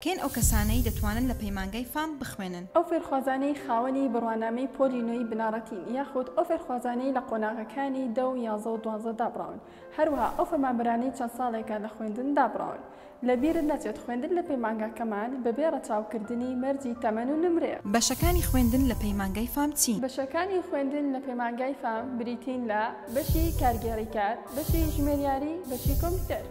کێن ئەو کەسانەی دەتوانن لە پەیمانگای فام بخوێنن؟ ئەو فێرخوازانەی خاوەنی بڕوانامەی پۆلی نۆی بنەڕەتین یاخود ئەو فێرخوازانەی لە قۆناغەکانی دە و یازە و دوانزە دابڕاون هەروەها ئەو فەرمانبەرانەی چەند ساڵێکە لە خوێندن دابڕاون لە بیرت نەچێت خوێندن لە پەیمانگاکەمان بەبێ ڕەچاوکردنی مەرجی تەمەن و نمرەیە. بەشەکانی خوێندن لە پەیمانگای فام چین؟ بەشەکانی خوێندن لە پەیمانگای فام بریتین لە، بەشی کارگێڕی کار، بەشی ژمێریاری، بەشی کۆمپیوتەر.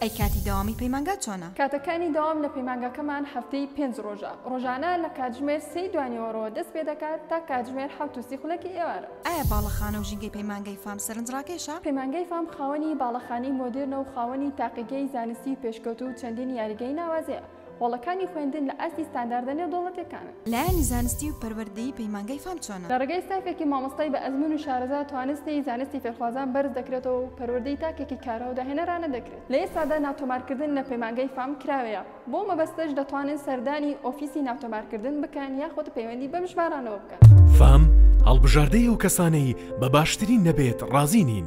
ئەی کاتی دەوامی پەیمانگا چۆنە؟ کاتەکانی دەوام لە پەیمانگاکەمان هەفتەی پێنج ڕۆژە، ڕۆژانە لە کاتژمێر سێی دوانیوەڕۆوە دەست پێ دەکات تا کاتژمێر حەوت و سی خولەکی ئێوارە. ئایا باڵەخانە و ژینگەی پەیمانگای فام سەرنجڕاکێشە؟ پەیمانگای فام خاوەنی باڵەخانەی مۆدێرنە و خاوەنی تاقیگەی زانستی پێشکەوتوو و چەندین یاریگەی ناوازەیە. هۆڵەکانی خوێندن لە ئاستی ستانداردە نێودەوڵەتیەکانن. لایەنی زانستی و پەروەردەیی پەیمانگای فام چۆنە؟ لە ڕێگای ستافێکی مامۆستای بە ئەزموون و شارەزا توانستی زانستی فێرخوازان بەرز دەکرێتەوە و پەروەردەی تاکێکی کارا و داهێنەرانە دەکرێت. لە ئێستادا ناتۆمارکردن لە پەیمانگای فام کراوەیە، بەو مەبەستەش دەتوانن سەردانی ئۆفیسی ناتۆمارکردن بکەن یاخود پەیوەندی بەم ژمارانەوە بکەن. فام هەڵبژاردەی ئەو کەسانەی بە باشترین نەبێت ڕازی نین.